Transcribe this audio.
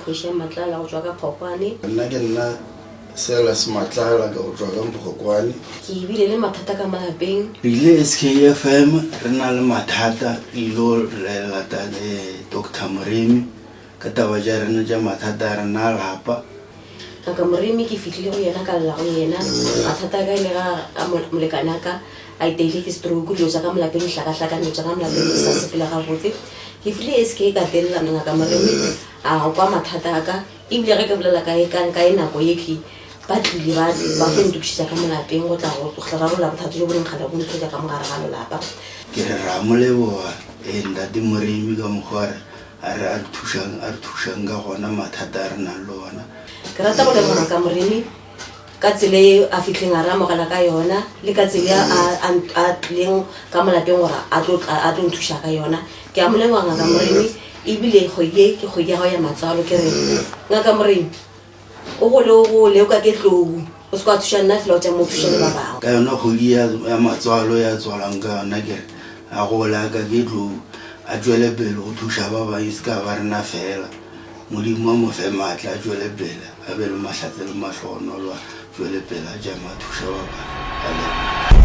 kgoši ya matlala go tswa ka kgokwane nna ke nna sela se matlala ka go tswa ka kgokwane ke ebile le mathata ka malapeng rile s k f m re na le mathata ilo relatane doctor moremi Ka taba tša rena tša mathata a rena a lapa. A ka Moremi, ke fihlile go yena, ka lla go yena. Mathata a ka e le ga a molekane a ka a iteile ke stroke, dilo tša ka molapeng di hlakahlakane, dilo tša ka molapeng di sa sepela gabotse. Ke file e SK ka telelana, Ngaka Moremi a kwa mathata a ka, e bile ge ke bolela ka ka ka e nako ye ke ba tlile ba ba tlo ntokišetša ka molapeng go tla go tlo rarolla bothata jo bo neng kgale bo nthoja ka mo gare ga lelapa. Ke re, Re a mo leboga, ee, Ntate Moremi, ka mokgwa re. A re, A re thušang, a re thušang ka gona mathata a re nang le ona. Ke rata go leboga ka Moremi ka tsela e a fitlheng a re amogela ka yona le ka tsela a, a, a tlileng ka molapeng gore a tlo tla a tlo nthuša ka yona. Ke a mo leboga Ngaka Moremi ebile kgwedi e ke kgwedi ya gago ya matswalo ke re Ngaka Moremi o gole o gole o ka ke tlou o se ka thuša nna fela o tša mo thuša le ba bangwe ka yona kgodi ya ya matswalo ya tswalang ka yona kere a gole a ka ke tlou a tšwele pele go thuša ba bangwe e se ka ba rena fela modimo wa mo fe maatla a tšwele pele a be le mahlatse le mahlogonolo a tšwele pele a jama a thuša ba bangwe a leboga